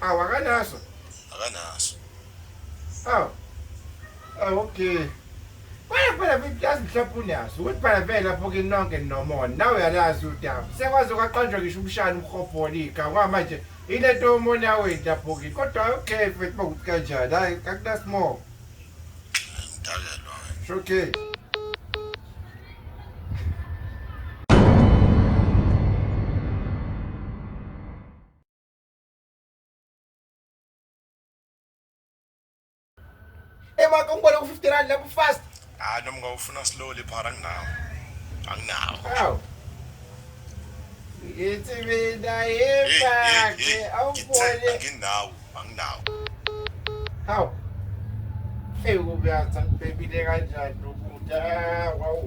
Awu akanaso. Akanaso. Awu. Awu okay. Baya phela kuyazi mhlawumbe unaso. Ukuthi phela vele lapho ke nonke nomona. Nawe uyalazi udaba. Sekwaze kwaqanjwa ngisho umshana umhobholi igama manje. Ile nto umona wethu lapho ke. Kodwa okay mfethu bokuthi kanjani. Hayi akunasimo. Ngidakelwa. Okay. emaka ungibone ku-fifty rand lapho fast hayi noma ngawufuna slowly phara anginawo anginawo awu ngithi mina yebake awubone anginawo anginawo hawu eyi kubuyaza ngibhebile kanjani ukuda wawu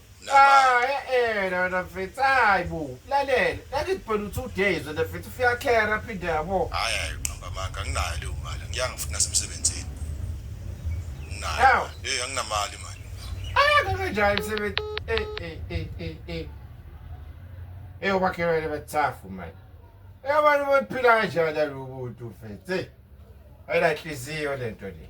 Ah, eh, eh, no, no, mfethu, hayi bo, lalela, lakithi phela u-two days wena mfethu, ufiyakhera phinde yabo. Hayi hayi uqamba amanga anginayo leyo mali. Ngiyanga futhi nasemsebenzini. Nginayo. Hawu. Hey anginamali manje. Ah, kanganjani msebenzi? Eh, eh, eh, eh, eh. Eh, ubakhelwane bathafu manje. Eh, abantu baphila kanjani lalo buntu mfethu, eh. Ayinahliziyo lento le.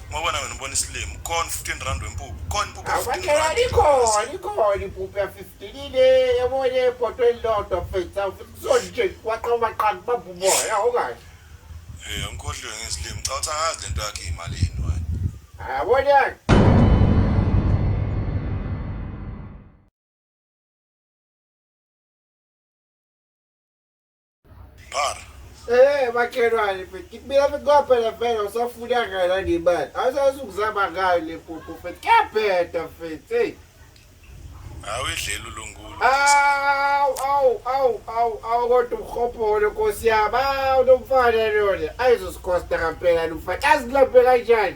Ngoba nawe nibona isilimo. Khona 15 rand wempuphu. Khona impuphu ya 15 Akwakhe rand. likhona likhona impuphu ya 15 ile yabone iphoto elilodwa fetsa futhi kusona nje kwaqa umaqaka ubamba umoya awukahle. Eh, angikhohliwe ngezilimo. Cha uthi angazi lento yakhe imalini wena. Yabona Bar. Eh bakhelwane mfethu mina bekukaphela vele usafuna ngala ngemali awusazi ukuzama ngayo le pupu mfethu kuyabheda mfethu eyi Hawu idlela uLungulu. awu awu awu awu awu kodwa umhobholo nkosi yami awu lomfana lona ayizosikhosita kampela lomfana azilaphe kanjani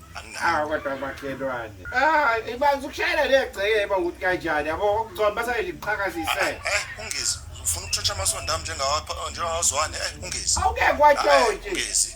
awu kodwa makhelwane ah ibanzi ukushayela legceke eba ukuthi kanjani yabo okugcwala basale liqhakazise eh, eh ungezi ufuna ukutshotsha amasondo ami njengawapha oh, njengawazwane eh ungezi awukeke kwatshontshe eh, ungezi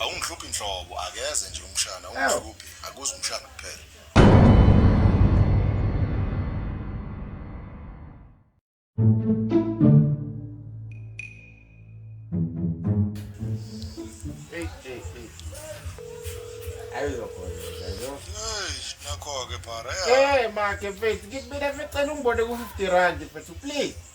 Awungihluphi nhlobo akeze nje umshana ungihluphi akuzi umshana kuphela. Nakho-ke phara. Hey, makhe mfethu, ngikubile mfethu, cela ungibone ku-50 rand mfethu, please.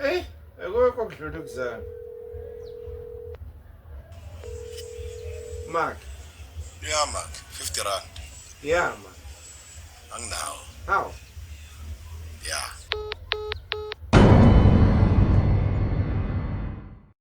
Hey, akukho kudlula kuzana. Mark. Yeah, Mark. 50 rand. Yeah, Mark. Anginawo. How? Yeah.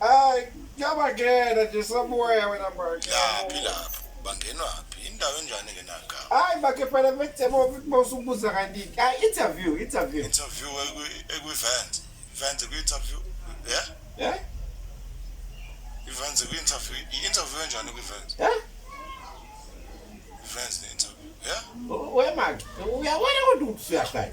Ay, yabangena nje sobuya wena manje. Yaphi lapho? Bangenwaphi? Indawo enjani ke naka? Ay, bakhe phela bethe bo bosubuza kanti. Ay, interview, interview. Interview eku eku event. Event eku interview. Yeah? Yeah? Event eku interview. Interview enjani ku event? Yeah? Event ne interview. Yeah? Where Mark? Where where would you say that?